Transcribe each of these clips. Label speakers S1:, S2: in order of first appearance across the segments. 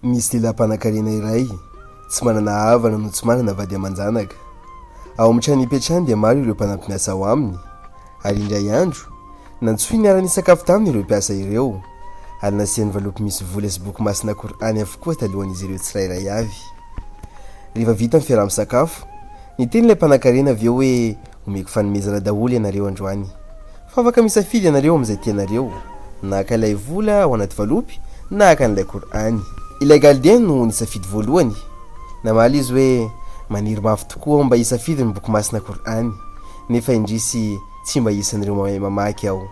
S1: Misy lehilahy mpanankarena iray, tsy manana havana no tsy manana vady aman-janaka. Ao amin'ny trano ipetrahany dia maro ireo mpanampy-miasa ao aminy, ary indray andro, nantsoiny hiara-nisakafo taminy ireo mpiasa ireo, ary nasiany valopy misy vola sy boky masina Kor'any avokoa talohan'izy ireo tsirairay avy. Rehefa vita ny fiaraha-misakafo, niteny ilay mpanankarena avy eo hoe Omeko fanomezana daholo ianareo androany. Fa afaka misafidy ianareo amin'izay tianareo, na haka ilay vola ao anaty valopy na haka an'ilay Kor'any. Ilay Galdien no nisafidy voalohany. Namaly izy hoe, Maniry mafy tokoa aho mba hisafidy ny Boky Masina Kor'any, nefa indrisy tsy mba isan'ireo mahay mamaky aho.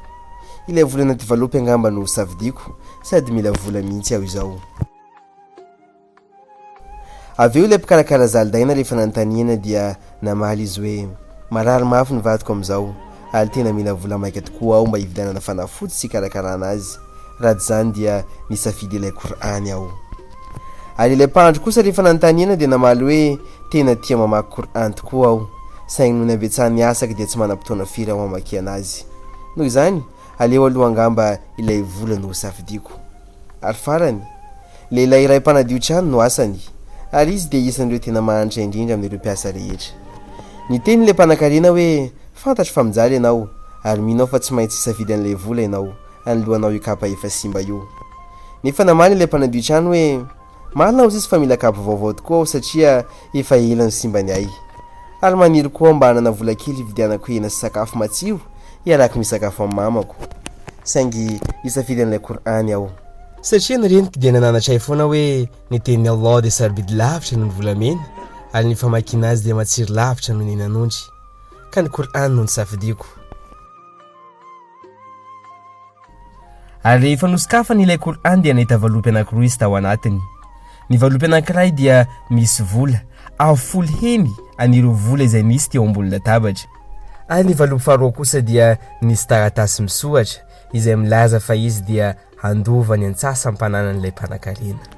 S1: Ilay vola anaty valopy angamba no safidiako, sady mila vola mihitsy aho izao. Avy eo ilay mpikarakara zaridaina rehefa nanontaniana dia namaly izy hoe, Marary mafy ny vadiko amin'izao, ary tena mila vola maika tokoa aho mba hividianana fanafody sy hikarakarana azy, raha tsy izany dia nisafidy ilay Kor'any aho. Ary ilay mpandry kosa rehefa nanontaniana dia namaly hoe, Tena tia mamaky Kor'any tokoa aho, saingy noho ny habetsahan'ny asako dia tsy manam-potoana firy aho hamakiana azy. Noho izany, aleo aloha angamba ilay vola no hosafidiako. Ary farany, lehilahy iray mpanadio trano no asany, ary izy dia isan'ireo tena mahantra indrindra amin'ireo mpiasa rehetra. Niteny ilay mpanankarena hoe, Fantatro fa mijaly ianao, ary mino aho fa tsy maintsy hisafidy an'ilay vola ianao, anoloanao io kapa efa simba io. Nefa namaly ilay mpanadio trano hoe, Marina hozy izy fa mila kabo vaovao tokoa aho satria efa ela no simba ny ahy. Ary maniry koa aho mba hanana vola kely hividianako hena sy sakafo matsiro hiarako misakafo amin'ny mamako. Saingy hisafidy an'ilay Kor'any aho. Satria ny reniko dia nananatra ahy foana hoe ny tenin'i Allah dia sarobidy lavitra noho ny volamena ary ny famakiana azy dia matsiro lavitra noho ny henan'ondry. Ka ny Kor'any no nisafidiako. Ary rehefa nosokafany ilay Qur'an dia nahita valopy anankiroa izy tao anatiny. Ny valopy anankiray dia misy vola, avo folo heny an'ireo vola izay nisy teo ambony latabatra. Ary ny valopy faharoa kosa dia nisy taratasy misoratra izay milaza fa izy dia handova ny antsasam-pananan'ilay mpanankarena.